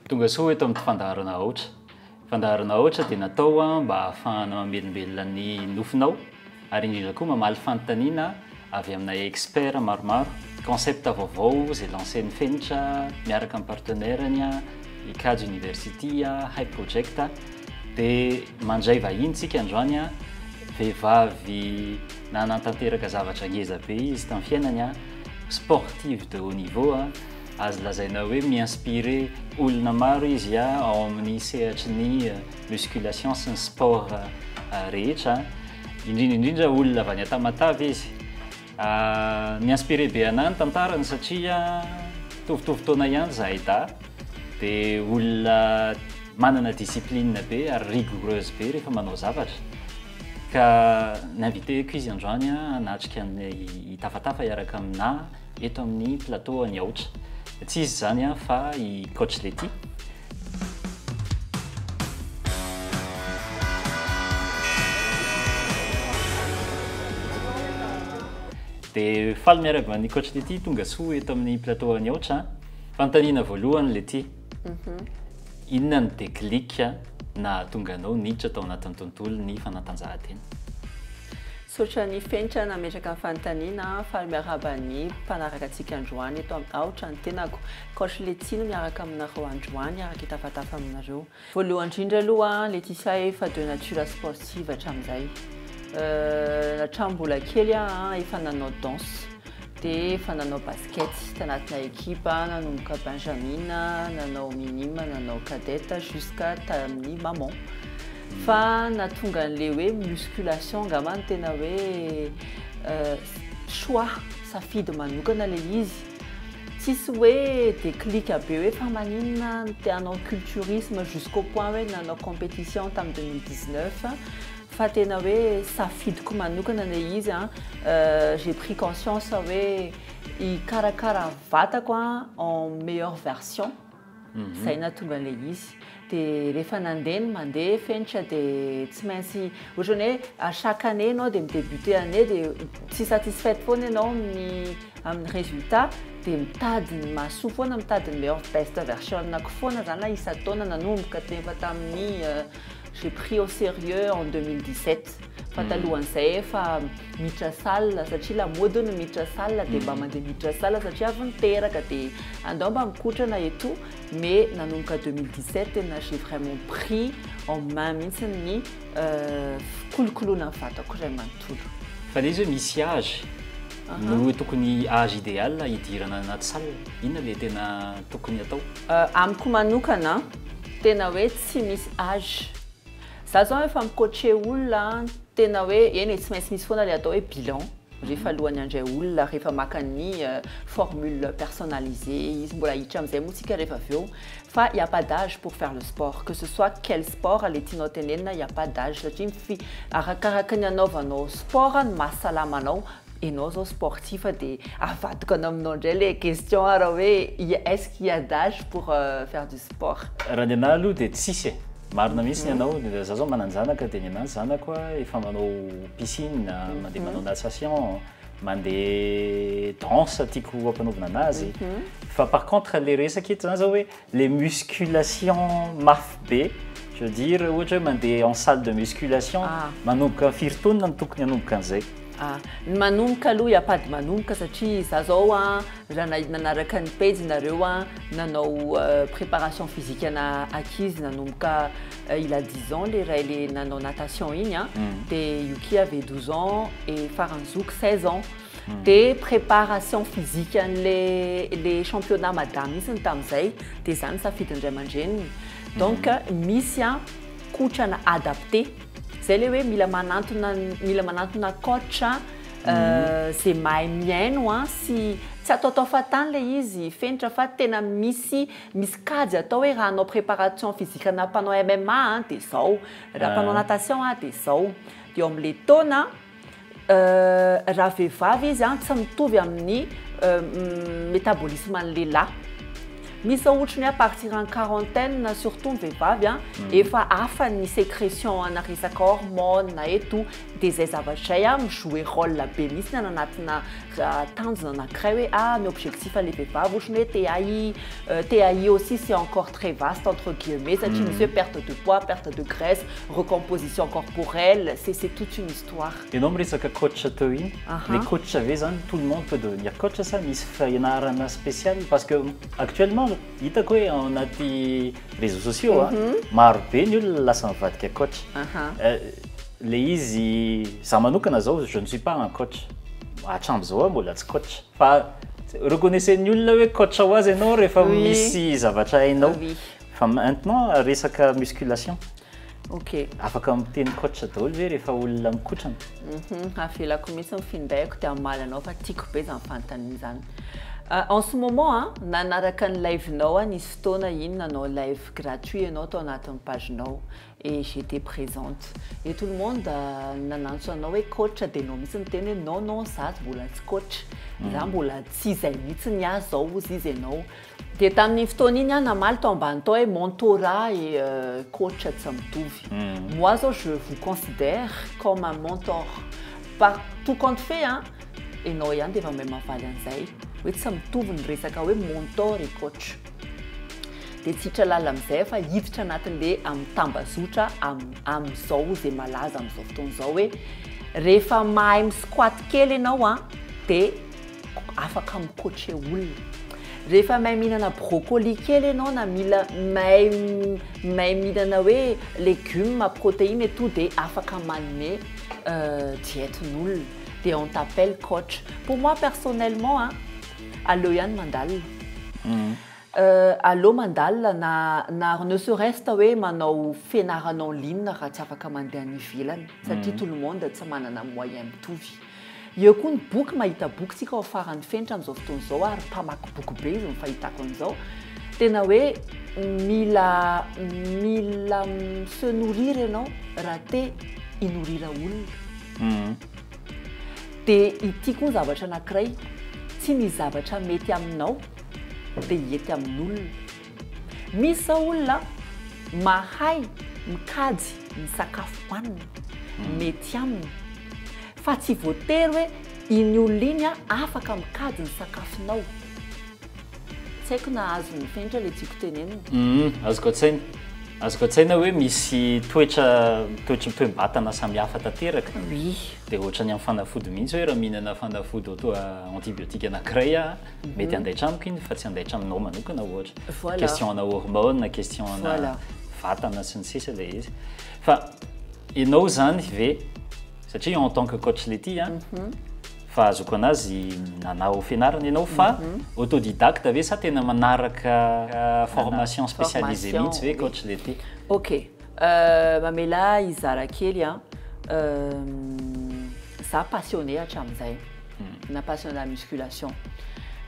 Tongasoa eto amin'ity fandaharana Aotra. Fandaharana Aotra dia natao mba hahafahana mamelombelona ny nofinao ary indrindra koa mamaly fanontaniana avy amina expert maromaro, concept vaovao izay lancer-n'ny Fenitra miaraka amin'ny partenaire-ny, Icade University, Hype Project. Dia mandray vahiny isika androany, vehivavy nanatanteraka zavatra ngeza be izy tamin'ny fiainany, sportive de haut niveau. Azo lazaina hoe mi-inspirer olona maro izy ao amin'ny sehatry ny musculation sy ny sport rehetra, indrindra indrindra olona avy any Tamatave izy. Mi-inspirer be an'ahy ny tantarany satria mitovitovy taona ihany izahay dahy, dia olona manana discipline be ary rigoureuse be rehefa manao zavatra, ka ni-inviter-ko izy androany hanatrika ny tafatafa hiaraka amin'ahy. eto amin'ny plateau an'i Aotra. Tsy izy izany fa i Coach Letty. Dia faly miarahaba an'i Coach Letty tonga soa eto amin'ny plateau an'i Aotra. Fanontaniana voalohany Letty. Mhm. Inona ny déclic nahatonga anao niditra tao anatin'ny tontolon'ny fanatanjahantena? Misaotra ny fenitra nametraka ny fanontaniana faly miarahaba ny mpanaraka antsika androany eto amin'ny aotra ny tenako coach Letty no miaraka aminareo androany araka hitafatafa aminareo voalohany indrindra aloha Letitia efa de nature sportive hatramin'izay hatram mbola kely aho efa nanao danse dia efa nanao basket tanatina ekipa, nanomboka benjamin, nanao minime, nanao cadet jusqu'à tamin'ny maman. Fa natonga an'ilay hoe musculation angamba no tena hoe euh, choix, safidy manokana ilay izy. Tsisy hoe déclic be hoe fa maninona te hanao culturisme jusqu'au point hoe nanao compétition tamin'ny 2019 Fa tena hoe safidiko manokana ilay izy an, j'ai pris conscience hoe hikarakara vatako an en meilleure version izay nahatonga an'ilay izy, dia rehefa nandeha ny mandeha fenitra dia tsy maintsy ohatran'ny hoe à chaque année ianao dia mi-debuter année dia tsy satisfaite foana ianao amin'ny amin'ny résultat dia mitady ny mahasoa foana, mitady ny meilleure best version-nako foana izany na isan-taona nanomboka efa tamin'ny J'ai pris au sérieux en 2017 fa talohan'izay efa miditra salle satria lamaody ny miditra salle dia mba mandeha miditra salle satria avy niteraka dia andao mba mikotrana etoa mais nanomboka 2017 tena j'ai vraiment pris en main mihitsy ny fikolokoloana ny vatako iray manontolo. Fa le izy hoe misy âge no hoe tokony âge idéal hidirana anaty salle, inona le tena tokony atao? Amiko manokana. Tena hoe tsy misy age. Za zao efa mi coacher olona an, tena hoe eny e tsy maintsy misy foana le atao hoe bilan rehefa alohan'ny handray olona rehefa maka ny formule personnalisé izy mbola hiditra amizay moa tsika rehefa avy eo fa il n'y a pas d'age pour faire le sport que ce soit quel sport le tianao tenenina il n'y a pas d'age satria arakaraka ny anaovanao sport ny mahasalama anao Enao zao sportif de avadikana aminao ndray le question ara hoe est-ce qu'il ya d'age pour faire du sport? Raha ny anah aloha dia tsisy e. Marina mihitsy ny anao, za zao manan-janaka dia ny anah zanako efa manao piscine, mandeha manao natation, mandeha danse tiako ampanaovina anazy, fa par contre le resaka eto zany zao hoe, Les musculations mafy be, je veux dire ohatra hoe mandeha en salle de musculation, manomboka amin'ny firy taonina no tokony hanomboka an'izay? Ah, ny manomboka aloha hiampady manomboka satria za zao an, raha nahita nanaraka ny pejy nareo an, nanao préparation physique ana ankizy nanomboka il a dix ans le ray le nanao natation iny an, dia io ki avait douze ans et faran'ny zoky seize ans. Dia préparation physique an'ilay ilay championnat madame mihitsy ny tamin'izay, dia izany ny safidin'ny ray aman-dreniny. Donc misy an, kotrana adapté. Izay ilay hoe mila manantona ny, mila manantona coach izay mahay mihaino an, sy tsy ataotao fahatany ilay izy, fenitra fa tena misy, misy kajy atao hoe raha hanao préparation physique ana mpanao MMA an dia izao, raha mpanao natation an dia izao. Dia ao amin'ilay taona. Raha vehivavy izy an, tsy mitovy amin'ny metabolisme an'ny lehilahy. Misy izao ohatry ny hoe à partir en quarantaine surtout ny vehivavy an, efa hafa ny secretion ana resaka hormones eto, dia izay zavatra izay an mi-jouer role be mihitsy ny any anatina tanjona anankiray hoe, ah ny objectif an'ilay vehivavy ohatry ny hoe te-hi, te-hi aussi c'est encore. très vaste entre guillemets satria misy hoe perte de poids, perte de graisse, recomposition corporelle, c'est c'est toute une histoire. Ianao miresaka coach teo iny, le coach ve zany tout le monde peut devenir coach sa misy fianarana spécial? Parce que actuellement hitako hoe ao anaty réseaux sociaux a, maro be ny olona lasa mivadika coach, le izy, za manokana zao je ne suis pas un coach, hatram'izao aho mbola tsy coach. Fa reconnaissez-ny olona hoe coach ho azy ianao rehefa misy zavatra hainao. Fa maintenant resaka musculation. Ok. Afaka miteny coach daholo ve rehefa olona mikotrana? Hum avelako mihitsy ny finday ko dia hamaly anao fa tiako be izany fanontaniana izany. En ce moment a, nanaraka ny live-nao aho nisy fotoana iny nanao live gratuit ianao tao anatin'ny page-nao. et j'etais présente et tout le monde nanantso anao hoe coach dia ianao mihitsy niteny hoe non non za mbola tsy coach za mbola tsy izay mihitsy ny ahy zao hozy izy ianao dia tamin'iny fotoana iny aho namaly tao ambany tao hoe mentorat et coach tsy mitovy moi zao je vous considère comme un mentor par tout compte fait an ianao ihany dia efa mahay mavaly an'izay hoe tsy mitovy ny resaka hoe mentor et coach dia tsy hiditra lalina amin'izay fa hiditra anatin'le amin'ny tambazotra amin'izao izay malaza amin'izao fotoana izao hoe rehefa mahay mi-squat kely ianao an dia afaka mi-coacher olona rehefa mahay mihinana brocoli kely ianao na mila mahay mahay mihinana hoe legumes protéines et tout dia afaka manome diète-n'olona dia on t'appelle coach pour moi personnellement an Aleo ihany mandalina. Euh, aleo mandalina na na ary ne serait-ce ta hoe manao fianarana en ligne raha tsy afaka mandeha any ivelany satria tout le monde tsy manana moyen mitovy. Eo koa ny boky, mahita boky tsika ao faran'ny fenitra amin'izao fotoana izao ary mpamaky boky be izy ny fahitako an'izao. Tena hoe mila mila mi-se nourrir ianao raha te hi-nourrir olona. Dia ity koa zavatra anankiray, tsy ny zavatra mety aminao dia hety amin'olona. Misy izao olona mahay mikajy ny sakafo hohaniny, mety aminy, fa tsy voatery hoe iny olona iny afaka mikajy ny sakafonao. Tsy haiko na azon'ny fenitra le tiako tenenina. Humm azoko an-tsaina. Azoko an-tsaina hoe misy toetra toetry ny toe-batana samihafa tanteraka. Oui. Dia ohatran'ny amin'ny fanafody mihitsy hoe raha mihinana fanafody auto antibiotique anankiray aho, mety handaitra amiko iny fa tsy handaitra aminao manokana ohatra. Voilà. Question ana hormones na question ana Voilà. vatana sy ny sisa ilay izy. Fa ianao izany ve. satria en tant que coach Letty a, fahazoako anazy nanao fianarana ianao fa autodidacte ve sa tena manaraka formation spécialisée mihitsy ve coach Letty? Ok, mamela ahy hizara kely a, za passionné hatramin'izay, na passionné la musculation,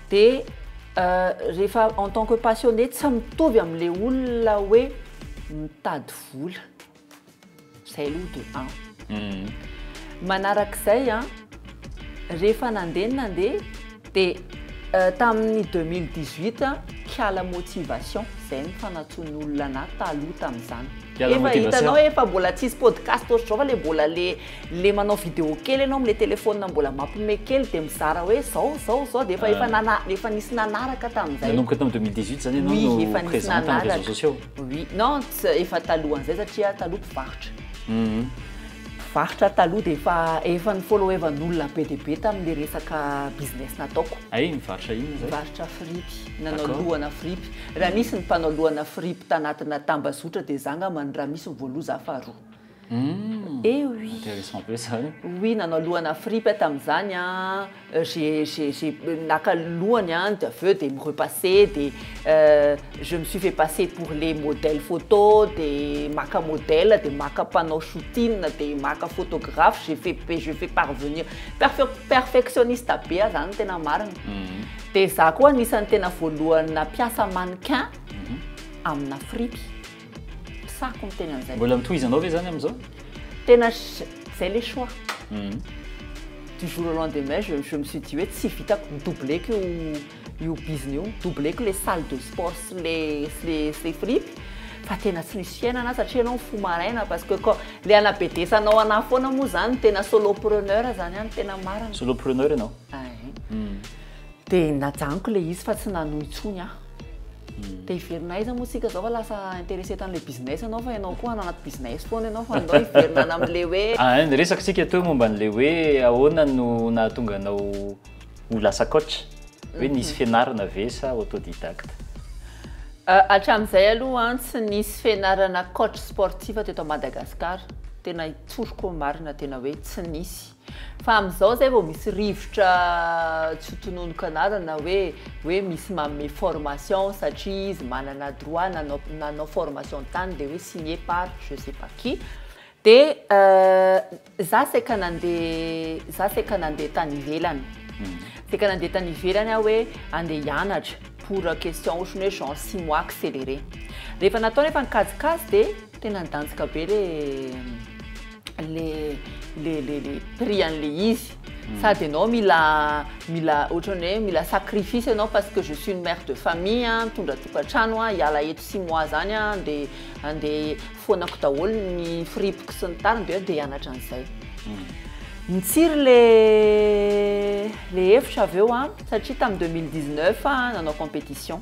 dia rehefa en tant que passionné tsy mitovy amin'ilay olona hoe mitady vola, Izay aloha de un. Manarak'izay an, rehefa nandeha ny nandeha dia tamin'ny deux mille dix huit kiala motivation izay nifanatsoan'ny olona anah taloha tamin'izany. Kiala motivation. Efa hitanao efa mbola tsisy podcast ohatry izao fa le mbola le le manao video kely ianao am'le telephone mbola mampime kely dia mizara hoe izao izao izao dia efa efa nana- efa nisy nanaraka tamin'izay. Nanomboka tamin'ny deux mille dix huit izany ianao no présente amin'ny réseaux sociaux. Oui non tsy efa talohan'izay satria taloha mpivarotra. Mpivarotra taloha dia efa efa ny followevan'olona be dia be tamin'ilay resaka business nataoko. Ay mivarotra inona izay? Mivarotra fripy, nanao D'accord. lohana fripy. Raha misy ny mpanao lohana fripy tanatina tambazotra dia izaho angambany raha misy ny voaloha izaho faharoa. Eh oui. Intéressant be zany. Oui, nanao lohana fripy tamin'izany an, j'ai j'ai j'ai naka lohany an, dia avy eo dia mi-repasser dia je me suis fait passer pour le modèle photo dia maka modèle dia maka mpanao shooting dia maka photographe, j'ai fait be je fais parvenir, perfe- perfectionniste be aho zany ny tena marina, dia za koa anisan'ny tena voalohany nampiasa mannequin amina fripy. Mpisako miteny an'izay. Mbola ny tohizanao ve izany amin'izao? Tena izay ilay choix. Du jour au lendemain, je, je me suis dit hoe tsy vitako, mi-doubler-ko io, io bizina io, mi-doubler-ko ilay salle de sport sy ilay, sy ilay, sy ilay fripy, fa tena tsy misy fiainana satria ianao mifoha maraina parce que quand, ilay anabedesanao anà foana moa izany no tena solopreneur izany an, tena marina. Solopreneur ianao? Ay. Dia najanoko ilay izy fa tsy nanohy intsony aho. Dia hiverina aiza moa isika izao fa lasa intéressé tamin'ilay business ianao fa ianao koa hanao anaty business foana ianao fa andao hiverina any amin'ilay hoe. Ah, niresaka isika teo momba an'ilay hoe ahoana no nahatonga anao ho lasa coach? Hoe nisy fianarana ve sa autodidacte? Ah, hatramin'izay aloha an, tsy nisy fianarana coach sportif teto Madagascar, tena tsoriko marina tena hoe tsy nisy. Fa amin'izao izay vao misy rivotra tsy ho tononiko anarana hoe hoe misy manome formation satria izy manana droit nanao nanao formation tany dia hoe signé par je sais pas qui dia za saika nandeha za saika nandeha tany ivelany saika nandeha tany ivelany aho hoe andeha hianatra pour question ohatran'ny hoe genre six mois accéléré rehefa natao nefa ny kajikajy dia Tena nidanjika be le le le le le prix an'le izy sady ianao mila mila ohatran'ny hoe mila sacrifice ianao parce que je suis une mère de famille a mitondra tokantrano a hiala eto six mois zany a andeha andeha foanako daholo ny firipiko sy ny tariny dia hoe andeha hianatra an'izay Nitsiry le le hevitra avy eo an satria tamin'ny deux mille dix neuf aho nanao competition.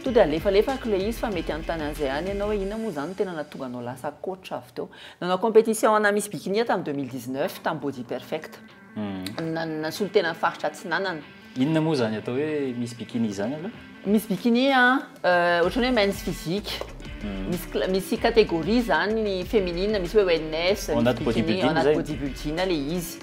To dia alefalefako ilay izy fa mety hanontany an'izay any ianao hoe inona moa izany no tena nahatonga anao lasa coach avy teo. Nanao compétition ana Miss Bikini aho tamin'ny deux mille dix neuf tamin'ny Body Perfect. Nasolo tena ny faritra Atsinanana. Inona moa izany atao hoe Miss Bikini izany aloha? Miss Bikini an, ohatran'ny hoe men's physique. Misy cla- misy catégorie izany ny feminine, misy hoe wellness, misy bikini, ao anaty body building ilay izy.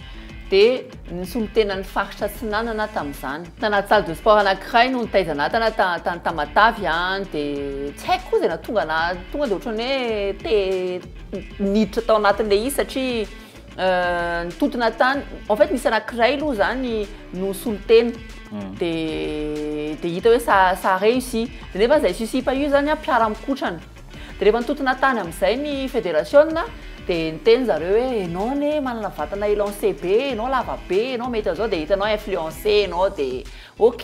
Dia. ny solontenan'ny faritra Atsinanana tamin'izany. Tana-tsal de sport anankiray no nitaizan'Atana tany Tamatavy an, dia tsy haiko koa izay nahatonga anah tonga dia ohatran'ny hoe te niditra tao anatin'ilay izy satria nitontona tany, en fait nisy anankiray aloha izany no solontena dia dia hita hoe ça ça a réussi, dia nefa izay susi-pa io izany an mpiara-mikotrana. Dia rehefa nitontona tany amin'izay ny federasiona dia niteny zareo hoe enao anie manana vatana élancé be, enao lava be, enao mety an'izao dia hitanao influencé enao dia ok.